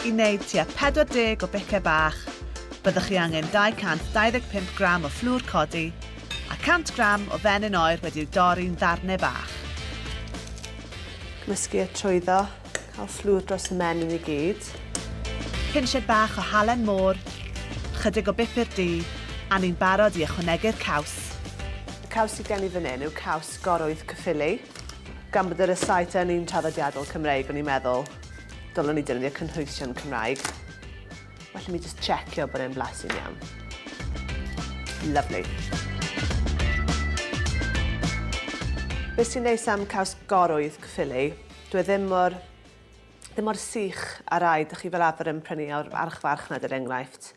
I wneud tua 40 o bicau bach, byddwch chi angen 225 gram o fflwr codi a 100 gram o fenyn oer wedi'w dorri'n ddarnau bach. Cymysgu a trwyddo, cael fflwr dros y menyn i gyd. Pinched bach o halen môr, ychydig o bupur du a ni'n barod i ychwanegu'r caws. Y caws sydd gen i fan hyn yw caws Gorwydd Caerffili. Gan bod yr estate yn un traddodiadol Cymreig, o'n i'n meddwl, dylwn i defnyddio cynhwysion Cymraeg. Felly mi jyst checio bod e'n blasu'n iawn. Lovely. Beth sy'n neis am caws gorwydd Caerffili, dwi e ddim mor, ddim mor sych a rai dych chi fel arfer yn prynu o'r archfarchnad er enghraifft.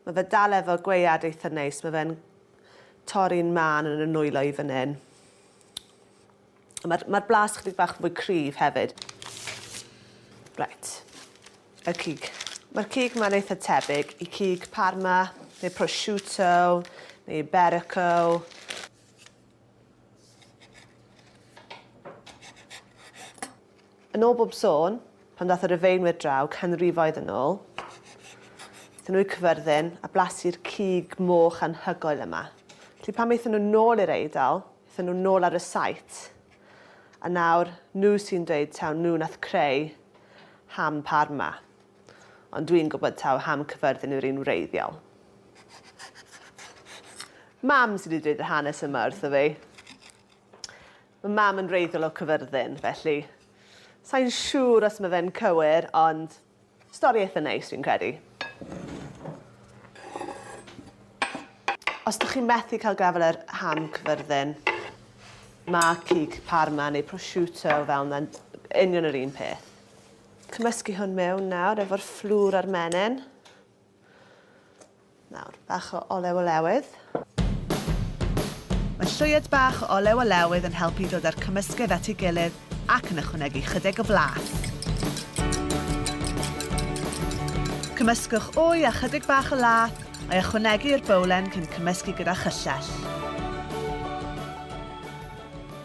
Mae fe dal efo gwead eitha neis, mae fe'n torri'n mân yn y nwylo i fan hyn. A mae'r mae blas chydig bach fwy cryf hefyd. Right. Y cig. Mae'r cig mae'n eitha tebyg i cig parma, neu prosciutto, neu iberico. Yn ôl bob sôn, pan ddaeth y Rufeinwyr draw canrifoedd yn ôl, aethon nhw i'r Cyfyrddin a blasu'r cig moch anhygoel yma. Felly pan aethon nhw nôl i'r Eidal, aethon nhw nôl ar y site. A nawr, nhw sy'n dweud taw nhw nath creu ham parma. Ond dwi'n gwybod taw ham Cyffyrddin yw'r un wreiddiol. Mam sydd wedi dweud yr hanes yma wrtho fi. Mae mam yn wreiddiol o Cyffyrddin, felly sa'n siŵr os mae fe'n cywir, ond stori eitha neis fi'n credu. Os ydych chi'n methu cael gafael ar ham Cyffyrddin, mae cig parma neu prosciutto fel yna'n union yr un peth. Cymysgu hwn mewn nawr efo'r fflwr a'r menyn. Nawr, bach o olew olewydd. Mae llwyed bach o olew olewydd yn helpu i ddod â'r cymysgedd at ei gilydd ac yn ychwanegu chydig o flas. Cymysgwch wy a chydig bach o lath, a'i ychwanegu i'r bowlen cyn cymysgu gyda chyllell.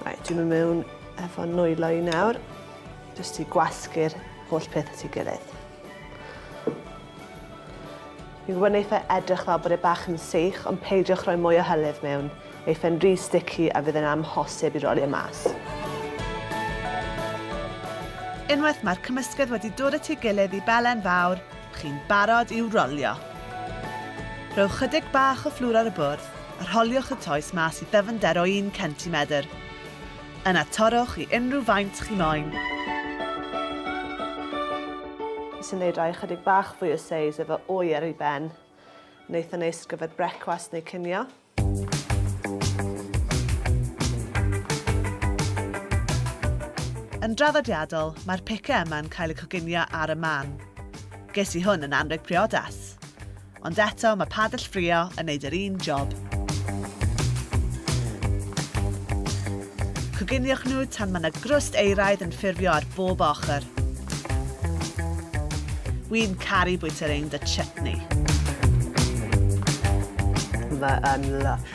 Reit, dwi'n mynd mewn efo nwylo i nawr. Jyst i gwasgu'r holl peth at ei gilydd. Yw yn eitha edrych fel bod e bach yn seich, ond peidiwch rhoi mwy o hylif mewn. Ei fe'n rhy sticky a fydd yn amhosib i roli e mas. Unwaith mae'r cymysgedd wedi dod at ei gilydd i belen fawr, chi'n barod i'w rolio. Rhowch chydig bach o fflwr ar y bwrdd a rholiwch y toes mas i ddyfnder o un centimedr. Yna torrwch i unrhyw faint chi moyn. Nes i neud rai ychydig bach fwy o seis efo wy ar ei ben. Yn eitha neis ar gyfer brecwast neu cinio. Yn draddodiadol, mae'r pice yma'n cael eu coginio ar y man. Ges i hwn yn anrheg priodas! Ond eto, mae padell ffrio yn neud yr un job. Coginiwch nhw tan mae na grwst euraidd yn ffurfio ar bob ochr. Wi'n caru bwyta rhein 'da chutney. Mae yn lysh.